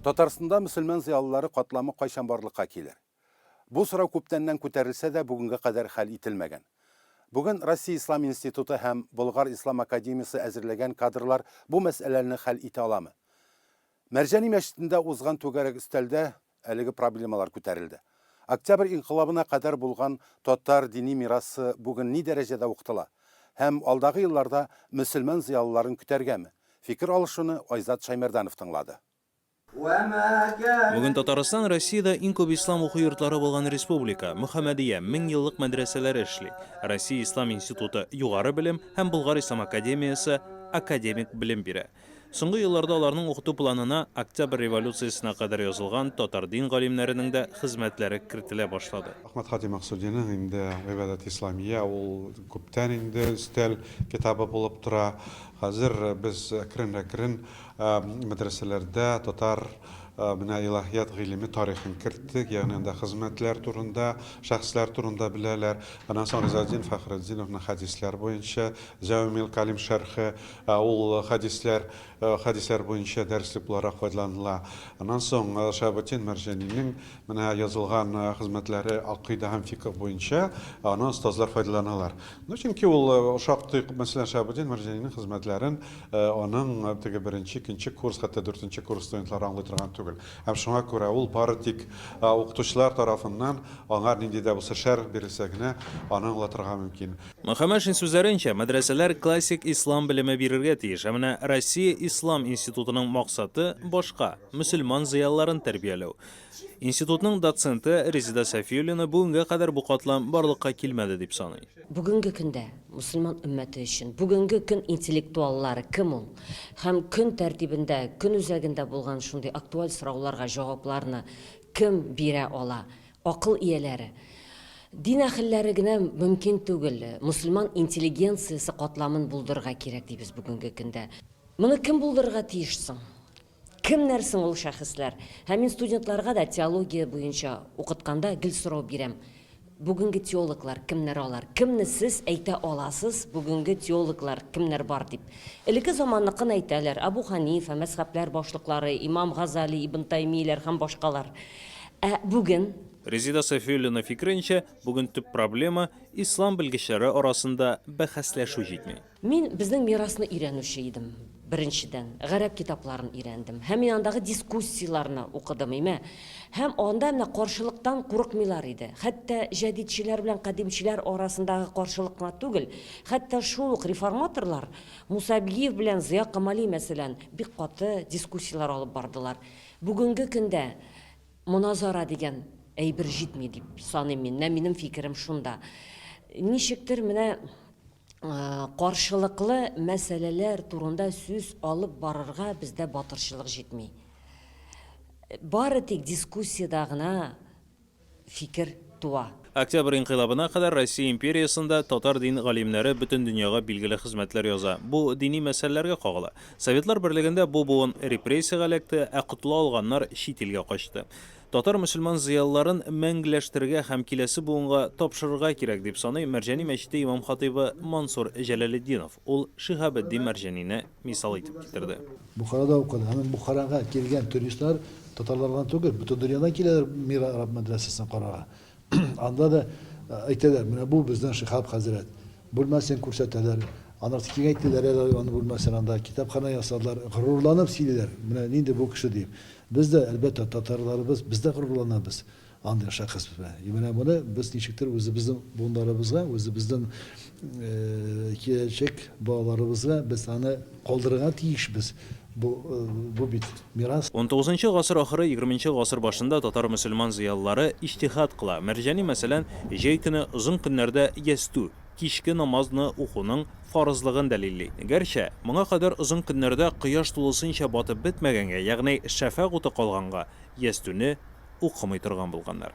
Татарстанда мөселман зыялылары катламы кайчан барлыкка килер? Бу сорау күптәннән күтәрелсә дә, бүгенгә кадәр хәл ителмәгән. Бүген Россия Ислам институты һәм Болгар Ислам академиясе әзерләгән кадрлар бу мәсьәләне хәл итә аламы? Мәрҗани мәчетендә узган түгәрәк өстәлдә әлеге проблемалар күтәрелде. Октябрь инкыйлабына кадәр булган татар дини мирасы бүген ни дәрәҗәдә укытыла? Һәм алдагы елларда мөселман зыялыларын көтәргәме? Фикер алышуны Айзат Шәймәрданов тыңлады. Бүген Татарстан Россиядә иң күп ислам уку йортлары булган республика, Мөхәммәдия, меңьеллык мәдрәсәләре эшли, Россия ислам институты, югары белем, һәм Болгар ислам академиясе, академик белем бирә. Соңгы елларда аларның укыту планына Октябрь революциясенә кадәр язылган татар дин галимнәренең дә хезмәтләре кертелә башлады. Әхмәт хаҗи Максудиның инде Гыйбадәт исламия ул күптән инде өстәл китабы булып тора. Хәзер без әкрен-әкрен мәдрәсәләрдә татар менә илаһият гыйлеме тарихын керттек, ягъни анда хезмәтләр турында, шәхесләр турында беләләр. Аннан соң Ризаэтдин Фәхретдиновның хәдисләр буенча Җәвамил кәлим шәрхе, Ә ул хәдисләр, хәдисләр буенча дәреслек буларак файдаланыла. Аннан соң Шаһабетдин Мәрҗанинең менә язылган хезмәтләре акыйдә һәм фикһ буенча аны остазлар файдаланалар. Ну, чөнки ул шактый күп, мәсәлән, Шаһабетдин Мәрҗанинең хезмәтләрен аның теге беренче, икенче курс, хәтта дүртенче курс студентлары аңлый торган түгел. Һәм шуңа күрә ул бары тик укытучылар тарафыннан аңар нинди дә булса шәрх бирелсә генә, аны аңлатырга мөмкин. Мөхәммәшин сүзләренчә, мәдрәсәләр классик ислам белеме бирергә тиеш, ә менә Россия Ислам институтының максаты башка, мөселман зыялыларын тәрбияләү. Институтның доценты Резеда Сафиуллина бүгенгә кадәр бу катлам барлыкка килмәде дип саный. Бүгенге көндә мөселман өммәте өчен бүгенге көн интеллектуаллары кем ул һәм көн тәртибендә, көн үзәгендә булган шундый актуаль сорауларга җавапларны кем бирә ала, Акыл ияләре, дин әхелләре генә мөмкин түгел, мөселман интеллигенциясе катламын булдырырга кирәк дибез бүгенге көндә. Моны кем булдырырга тиеш соң? Кемнәр соң ул шәхесләр? Һәм мин студентларга да теология буенча укытканда гел сорау бирәм, Бүгенге теологлар кемнәр алар? Кемне сез әйтә аласыз, бүгенге теологлар кемнәр бар дип? Элекке заманныкын әйтәләр, Әбу Хәнифә, мәзхәбләр башлыклары, имам Газали, Ибн Таймииләр һәм башкалар. Ә бүген? Резеда Сафиуллина фикеренчә, бүген төп проблема, ислам белгечләре арасында бәхәсләшү җитми. Мин безнең мирасны өйрәнүче идем, беренчедән, гарәп китапларын өйрәндем һәм мин андагы дискуссияләрне укыдым, имә, һәм анда менә каршылыктан курыкмыйлар иде, хәтта җәдидчеләр белән кадимчеләр арасындагы каршылык кына түгел, хәтта шул ук реформаторлар Муса Абилиев белән Зыя Камали, мәсәлән, бик каты дискуссияләр алып бардылар. Бүгенге көндә моназара дигән әйбер җитми дип саныйм мин. Менә минем фикерем шунда. Ничектер менә каршылыклы мәсьәләләр турында сүз алып барырга бездә батырчылык җитми. Бары тик дискуссиядә генә фикер туа. Октябрь инкыйлабына кадәр Россия империясендә татар дин галимнәре бөтен дөньяга билгеле хезмәтләр яза. Бу дини мәсьәләләргә кагыла. Советлар Берлегендә бу буын репрессиягә эләкте, ә котыла алганнар чит илгә качты. Татар-мөселман зыялыларын мәңгеләштерергә һәм киләсе буынга тапшырырга кирәк, дип саный Мәрҗани мәчете имам-хатыйбы Мансур Җәләлетдинов. Ул Шиһабетдин Мәрҗанине мисал итеп китерде. Бухарада укыды. Һәм Бухарага килгән туристлар татарлар гына түгел, бөтен дөньядан киләләр Мир араб мәдрәсәсен карарга. Анда да әйтәләр, менә бу безнең Шиһаб хәзрәт. Бүлмәсен күрсәтәләр. Анысы киңәйтәләр әле аны бүлмәсен, анда китапханә ясадылар. Горурланып сөйлиләр, менә нинди бу кеше дип. Без дә, әлбәттә, татарларыбыз, без дә горурланабыз. Андый шәхес безне. И менә моны без ничектер үзебезнең буыннарыбызга, үзебезнең киләчәк балаларыбызга без аны калдырырга тиешбез. Бу, бу бит мирас. Унтугызынчы гасыр ахыры, егерменче гасыр башында татар-мөселман зыялылары иҗтиһад кыла. Мәрҗани, мәсәлән, җәй көне озын көннәрдә ястү, кичке намаз, ны укуның фарызлыгын дәлилли. Гәрчә, моңа кадәр озын көннәрдә кояш тулысынча батып бетмәгәнгә, ягъни шәфәгъ уты калганга, ястүне, укымый торган булганнар.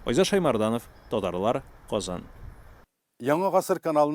Айза Шаймарданов, Татарлар, Казан. Яңа гасыр каналының